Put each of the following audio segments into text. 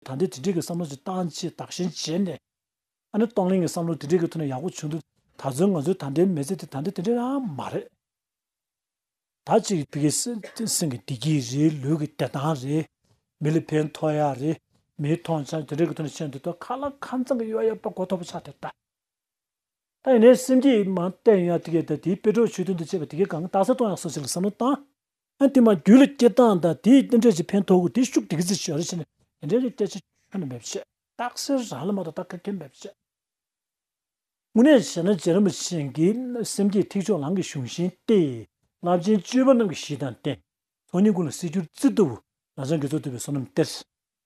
ད་འདི་དེ་འདྲིའི་བསམ་བློ་ཞིག་བཏང་ཆེད་དག་ཞིང་བྱས་ནས། ཨ་ནེ་སྟོང་གླིང་གི་བསམ་བློ་དེ་འདྲིའི་གི་ཐོག་ནས་ཡག་པོ་བྱུང་འདུག་ད་གཟོད་ང་ཚོའི་ད་ལྟའི་མི་ཚེ་དེ་ད་འདི་དེ་འདྲ་ཡང་མ་རེད། ད་ཅིག་གི་བི་ཀའི་སེང་གི་བདེ་སྐྱིད་རེད་ལུས་ཀྱི་བདེ་ཐང་རེད། མི་ལ་ཕན་ཐོགས་ཡག་རེད། མིའི་མཐོང་ཆ་དེ་འདྲའི་གི་ཐོག་ནས་བྱས་འདུག་ད་ཁ་ལ་ཁ་མཚང་གི་གཡོག་ཡ་པ་གོ་ཐོབ་པ་ཆགས་དེ་ད། ད་ཡིན་ནའི་སེམས་སྐྱིད་མ་བརྟན་ཡ་དེ་གས་ད་དེའི་དཔེ་གྲོགས་ཆོས་དོན་དུ་བྱས་པ་དེ་གས་གང་གི་རྟགས་གསལ་གཏོང་ཡག་སོགས་ཞིག་ལ་བསམ་བློ་བཏང། ཨ་འདི་མ་རྒྱུད་ལ་སྐྱེ་སྟངས་དང་དེའི་རྟེན་འབྲེལ་གྱི་ཕན་ཐོགས་ཀུན་དེ་ཤུགས་དེ་གི་ཚེ་ཞོར་ལས་བྱས་ནས་དེ་འབྲེལ་གྱི་སྐད་ཆ་ཁྱོན་ནས་འབེབས་ཆེད། རྟགས་གསལ་རང་ལ་མ་གཏོགས་བལྟ་མཁན་འབེབས་ཆེད། དངོས་གནས་བྱས་ན་རྗེ་རིན་པོ་ཆེ་འགི་སེམས་བསྐྱེད་ཐིག་ཕྱོགས་ལང་གི་གཞུང་བཞིན་ཏེ། རླབས་ཆེན་སྤྱོད་པ་རྣམས་ཀྱི་གཞི་དང་རྟེན་ཚོགས་གཉིས་ཀུན་ལ་གསེར་འགྱུར་རྩི་ལྟ་བུ་རང་བྱང་གི་གཙོ་བཏུལ་བའི་བསོད་ནམས་གཏེར།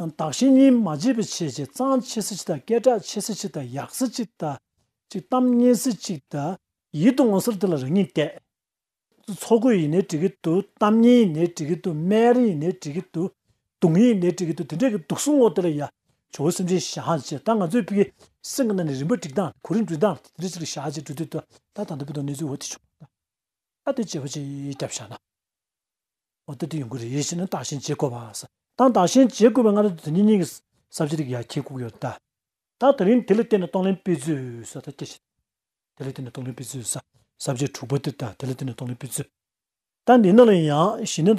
བདག་གཞན་གཉིས་མ་བརྗེད་པའི་ཆེད་ཀྱི་གཙང་ཆེ་སེ་གཅིག་དང་སྐད་གྲགས་ཆེ་སེ་གཅིག་དང་ཡག་སེ་གཅིག་དང། ཅིག་གཏམ་སྙན་སེ་གཅིག་དང། ཡིད་དུ་འོང་སར་དེ་ལ་རང་ཉིད་བལྟས། ཚོགས་གོས་ཡིན་ནའི་བྲིས་གི་འདུག་གཏམ་སྙན་ཡིན་ནའི་བྲིས་གི་འདུག་སྨན་རིན་ཡིན་ནའི་བྲིས་གི་འདུག་དུང་ཡིན་ནའི་བྲིས་གི་འདུག་དེ་འདྲས་ཀྱི་འདུག་གསུང་ངོ་དེ་ལ་ཡ། ཇོ་བོ་སེམས་ཅན་གཞག་ཅེས་ད་ང་ཚོའི་ཕི་གེ་སེང་གེ་ན་ནས་རིམ་པར་བསྒྲིགས་སྟངས་གོ་རིམ་འབྲི་སྟངས་དེ་འདྲས་ཅིག་ལ་གཞག་ཅེས་འབྲི་འདོད་དོ་ད་ད་ལྟ་བུད་དོ་གནས་ཚུལ་འོ་དེ་བྱུང། ད་དེ་བྱས་པ་ཅིག་རྒྱབ་བཞག་ན། འོ་དེ་དེ་ཡོང་གི་རེད་ཡིད་ཆེས་ནི་བརྟགས་ཞེན་བྱེད་དགོས་པ། ཏང་བརྟགས་ཞེན་བྱེད་དགོས་པའི་སྔ་དྲོ་དེ་ཉིན་གཉིས་ཀྱི་གསར་བརྗེ་རིགས་ཡར་འཁྱིལ་བཀུག་ཡོད་ད། ད་དེ་རིང་དེ་ལ་བརྟེན་ནས་གཏོང་ལེན་སྤེལ་རྫུས་ས་ད་སྐྱེ་ཤི་དེ་ལ་བརྟེན་ནས་གཏོང་ལེན་སྤེལ་རྫུས་ས་གསར་བརྗེ་དྲུག་པ་དེ་ད་དེ་ལ་བརྟེན་ནས་གཏོང་ལེན་སྤེལ་རྫུས་ད་འདི་ནང་ལ་ཡང་ཞི་གནས་དང།